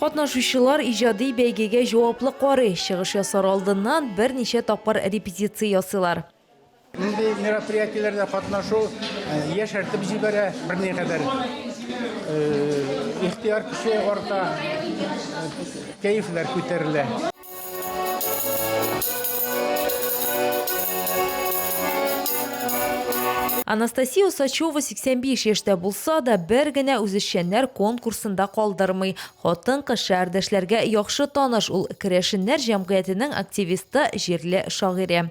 Катнашучылар иҗади бәйгегә җаваплы карый, чыгыш ясар алдыннан берничә тапкыр репетиция ясыйлар. Мондый мероприятиеләрдә катнашу яшәртеп җибәрә, берникадәр ихтыяр көче арта, кәефләр күтәрелә. Анастасия Усачева 85 яшьтә булса да, бер генә үзешчәннәр конкурсында калдырмый. Хатын-кыз шәһәрдәшләргә яхшы таныш ул, керәшеннәр җәмгыятенең активисты, җирле шагыйре.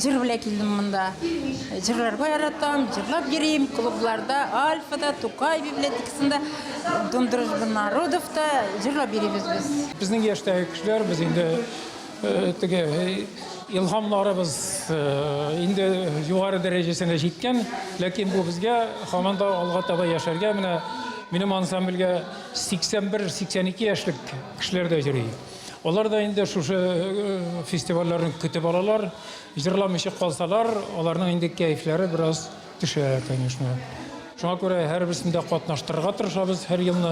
Җыр белән килдем монда. Җырларга яратам, җырлап йөрим. Клубларда, Альфада, Тукай библиотекасында, Дом дружбы народовта җырлап йөрибез без. Безнең яшьтәге кешеләр без инде э, теге э, илһамларыбыз э, инде югары дәрәҗәсенә җиткән, ләкин бу безгә һаман да алга таба яшәргә менә минем ансамбльгә 81-82 яшьлек кешеләр дә йөри. Алар да инде шушы фестивальләрне көтеп алалар. Җырламыйча калсалар, аларның инде кәефләре бераз төшә, конечно. Шуңа күрә һәрберсендә катнаштырырга тырышабыз һәр елны.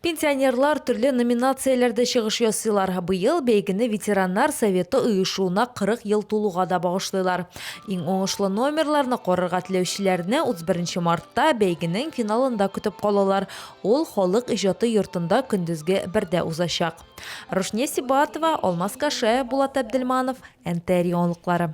Пенсионерлар төрле номинацияләрдә чыгыш ясыйлар. Быел бәйгене ветераннар советы оешуына 40 ел тулуга да багышлыйлар. Иң уңышлы номерларны карарга теләүчеләрне 31 мартта бәйгенең финалында көтеп калалар, ул Халык иҗаты йортында көндезге бердә узачак. Рушния Сибатова, Алмаз Кашаев, Булат Әбделманов, НТР яңалыклары.